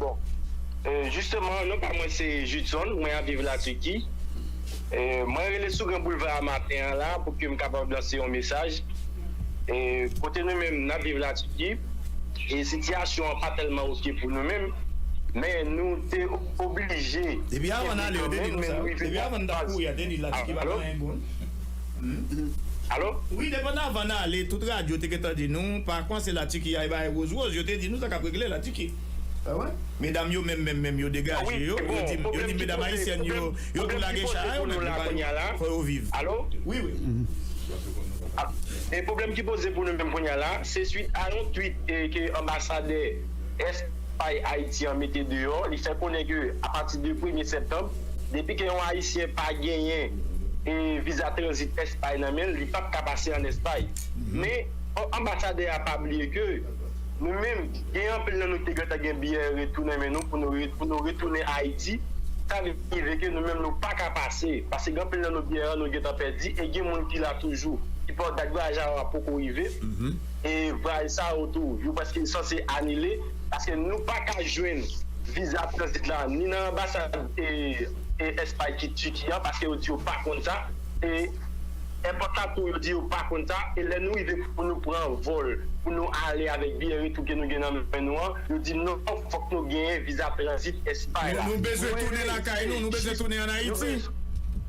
Bon Jisteman non pa mwen se Judson mwen ap viv la Tiki mwen rele sou gran boulva a maten an la pou ke m kapab lanse yon mesaj kote nou menm n ap viv la Tiki e sitiyasyon an pa tèlman ok pou nou menm men nou te oblije kenbe kanmenm men nou rive nan faz alo. Alo? Wi, depan avan n ale, tout radyo te gentan di nou, pa kwanse Latiki al bay woz woz, yo te di nou sa k ap regle Latiki. Medam yo menm menm menm yo degaje yo, yo di medam ayisyèn yo, yo tou lage cha a yo menm, yo pa yo, fò yo viv. Alo? Wi wi. E pwoblèm ki poze pou nou menm kounye a la, se swit a yon tweet ke anbasadè. Espas Ayiti an mete deyò, li fè konnen ke apati de premye septanb, depi ke yon ayisyen pa genyen viza tranzit Espas nan men l, li pap ka pase an Espas. Men, fòk anbasadè a pa bliye ke nou menm, gen anpil nan nou ki te gentan gen biyè retou nan men nou pou nou retounen Ayiti, sa rive ke nou menm nou pa ka pase, paske gen anpil nan nou biyè nou gentan pèdi e gen moun ki la toujou, ki poko, dat vwayaj a poko rive. vwayaj sa yo tou yo prèske sanse anile paske nou pa ka jwenn viza tranzit la ni nan anbasad Espay ki Tiki an paske yo di yo pa konn sa e èpòt la tou yo di yo pa konn sa e lè nou rive pou nou pran vòl pou nou ale avèk biyè retou ke nou gen nan men nou an yo di non fòk nou genyen viza tranzit Espay la. Nou bezwen tounen lakay nou, nou bezwen tounen an Ayiti.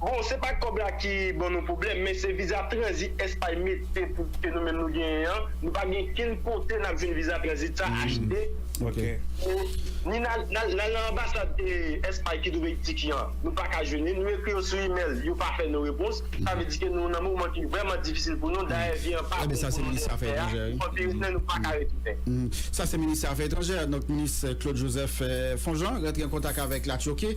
Bon se pa kòb la ki ban nou pwoblèm men se viza tranzit espay mete pou ke nou menm nou genyen an nou pa gen ken kote nap jwenn viza tranzit sa HD ni nal nan anbasad espay ki twouve Tiki an nou paka jwenn li nou ekri yo sou email yo pa fè nou repons sa vle di ke nou nan moman ki vrèman difisil pou nou dayè vi an pa bon pou nou nou fè a nou anvi retounen nou paka retounen. Sa se minis afè etranjè, donk minis Claude Joseph Fonjean rantre an kontak avèk la Turquie.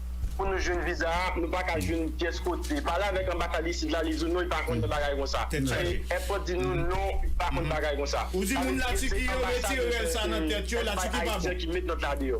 pou nou jwenn viza a nou paka jwenn pyès kote pale avèk anbasad isit la li di w non li pa konnen bagay konsa èpòt di nou non li pa konnen bagay konsa sa vle di se anbasad ou byen se èspay ayisyen ki met nòt la deyò.